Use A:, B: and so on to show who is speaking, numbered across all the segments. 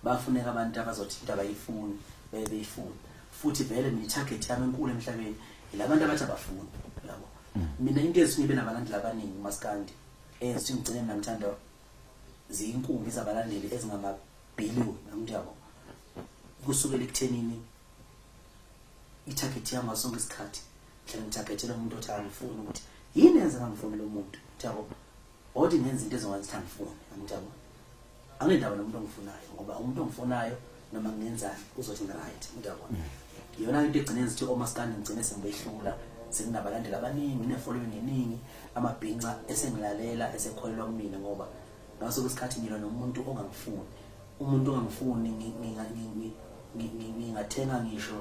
A: bafuneka abantu abazothi into abayifuni bebe beyifuna futhi vele mina itarget yami enkulu emhlabeni yilabantu abathi abafuni yabo mm. mina into ezinye benabalandeli abaningi umaskandi eyenza ukuthi ngigcine mina ngithanda ziyinkumbi zabalandeli ezingamabhiliyoni namntu yabo kusukela ekuthenini itarget yami ngasonke isikhathi hlale ngitargetela umuntu othi angifuni ukuthi yini enza ngangifuni lo muntu yabo Othi ngenza into ezokwenza ukuthi angifune, angijabule. Anginendaba nomuntu ongifunayo ngoba umuntu ongifunayo noma ngenzani uzothi ngiright, ngiyabona. Mm. Yona into egcine ngithi omaskandi ngigcine sengibehlula senginabalandeli abaningi nginefollowing eningi amabhinca esengilalela esekholelwa kumina ngoba ngaso kwesikhathi ngilwa nomuntu ongangifuni umuntu ongangifuni ngingathenga ngisho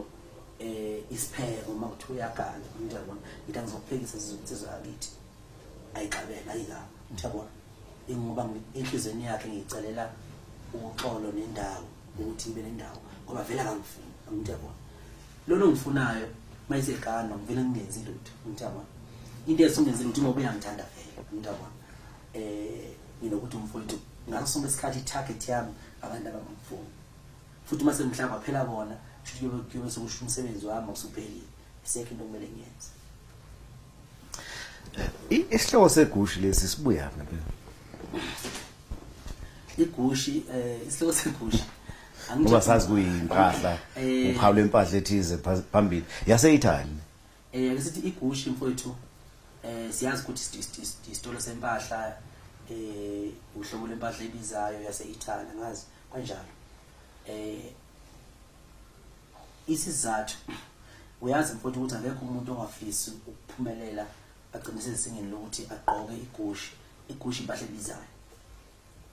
A: eh isipheko uma kuthiwa uyagana ngiyabona ngithi angizokuphekisa sizwe yakithi ayixabela ayika ngiyabona ingoba inhlizweni yakhe ngiyicelela uxolo nendawo ukuthi ibe nendawo ngoba vele akangifuni ngiyabona lona ongifunayo mayisegana ngivele ngingenzi lutho ngiyabona into esingenzi lutho ngoba uyangithanda vele ngiyabona eh nginokuthi umfowethu ngaso sonke isikhathi i-target yami abantu abangimfuni futhi uma sengihlaba phela bona kusho ukuthi kuyobe sekusho umsebenzi wami awusuphelile isekho into okumele ngiyenze
B: Isihloko segushi lesi sibuya ngabe.
A: Igushi eh isihloko segushi ngoba sazi
B: kuyimpahla eh, uphawu lempahla ethize phambili yaseyithani eh ake sithi
A: igushi mfowethu eh siyazi ukuthi isitolo sempahla eh uhlobo lempahla ebizayo yase-Italy ngazi kanjalo eh isizathu uyazi mfowethu ukuthi akekho umuntu ongafisi ukuphumelela agcine sezingeni lokuthi agqoke igushi igushi impahla ebizayo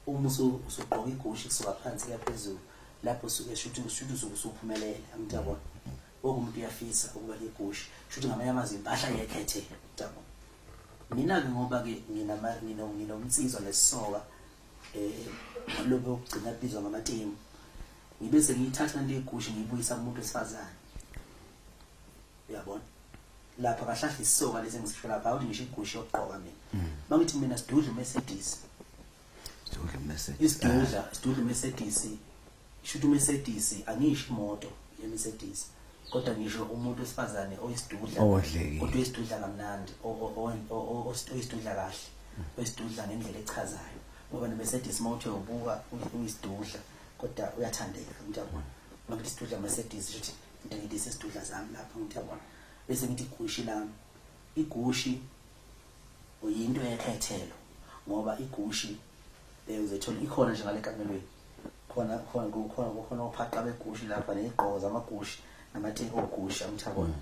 A: uma usugqoka igushi kusuka phansi kuya phezulu lapho suke shuthi ushuthi usuke usuphumelele angithi yabona wonke umuntu uyafisa ukuba negushi shuthi ngamanye amazwi impahla yekhethe yabona mina-ke ngoba-ke nginomnsizwa nesisoka um eh, lobe okugcina kubizwa ngamatimu ngibe sengiyithatha lento yegusha ngiyibuyisa kumuntu wesifazane uyabona lapha kahlahla isoka lezi ngisisho lapha awuthi ngisho igusha yokugqoka mina bangithi mm. mina sidudla umercedes sidudla umercedes isidudla ah. sidudla umercedes shuthi umercedes angisho imoto yemercedes kodwa ngisho umuntu wesifazane oyisidudla kodwa isidudla kamnandi oyisidudla kahle oyisidudla ngendlela echazayo ngoba nemercedes mawuthe ubuka uyisidudla kodwa uyathandeka ngithi yabona noma ngithi sidudla Mercedes ukuthi into ngidise sidudla zami lapha ngithi yabona bese ngithi igushi lami igushi uyinto yekhethelo ngoba igushi eh, uzothola ikhona nje ngale kamelweni khona khona khona khona uphaqa begushi lapha nezigqoko zamagushi namatheki ogushi amthabona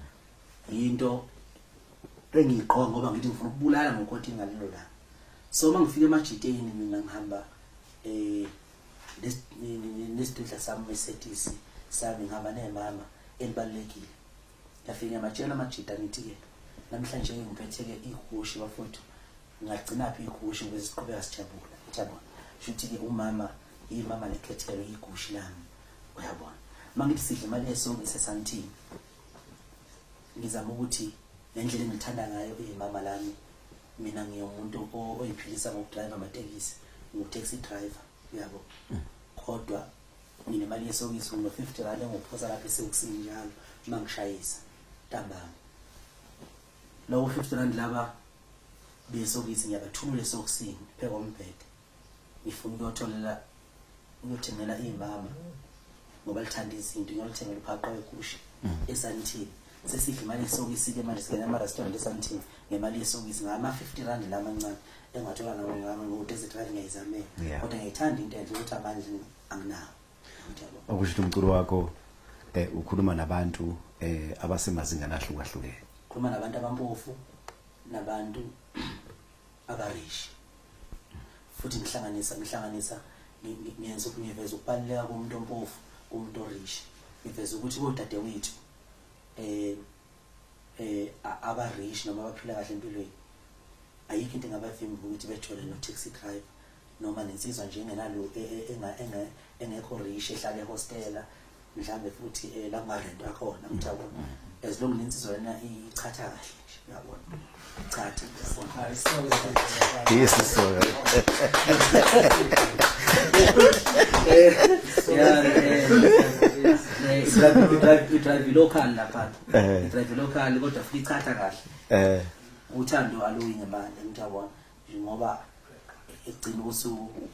A: mm. into engiyigqoka ngoba ngithi ngifuna ukubulala ngokothi ngalelo la so uma ngifika emajiteni mina ngihamba eh nesidudla sami mesetisi sami ngihamba nemama elibalulekile ngafike ngabatshela amajida ngithi-ke namhlanje ngiphethe-ke ihushi bafowethu ngagcinaphi ihushi ukuze siqhubeka sijabula yabona shuthi-ke umama imama lekhethelo igushi lami uyabona uma ngithi sidla imali yesonke sesantini Ngizama ukuthi nendlela engithanda ngayo imama lami mina ngiyomuntu oyiphilisa ngokudrive amatekisi ngu-taxi driver uyabo kodwa nginemali yesokisi ngino-fifty rand engophosa lapho esewukusini njalo uma ngishayisa ntambama lowo fifty rand laba besokisi ngiyabathumula esokisini phekombhede ngifuna ukuyotholela uyothengela iy'mama ngoba lithanda izinto ngiyolithengela uphaqo wegusha mm. esantini sesidla imali yesokisi-ke manje singena ama-restaurant esantini ngemali yesokisi ngama-fifty rand la amancane engathola nawengama ngo-desert rand ngiyayizamela kodwa ngiyayithanda into enhle ukuthi amandla anginawo okusho
B: ukuthi umculo wakho eh ukhuluma nabantu eh abasemazingana ahlukahlukene khuluma nabantu
A: abampofu nabantu akarishi futhi ngihlanganisa ngihlanganisa ngiyenza ukuthi ngiveza ukubaluleka komuntu ompofu kumuntu orishi ngiveza ukuthi kodadewethu eh eh abarishi noma abaphila kahle empilweni ayikho into engabavimba ukuthi bethole no-taxi driver noma nensizwa nje engenalo e, e, engekho rishi ehlale ehostela mhlambe futhi eh, la marent akhona mthabo as long lensizwa lena ichatha kahle nje uyabona chatha
B: yes so
A: drive local lapha eh. drive local kodwa futhi ichatha kahle eh. uthando aluyi ngemali mthabo ngoba egcina usuku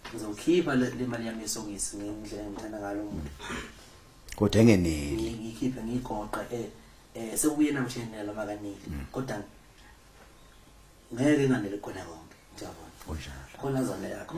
A: ngizokhipha le mali yami yesokisi ngendlela engithanda ngalo muntu kodwa
B: engeneli ngikhiphe ngigoqe
A: eh, eh sekuyena mshenela makanile mm. kodwa ngeke nganele khona konke ngiyabona kunjalo
B: khona
A: zona yakho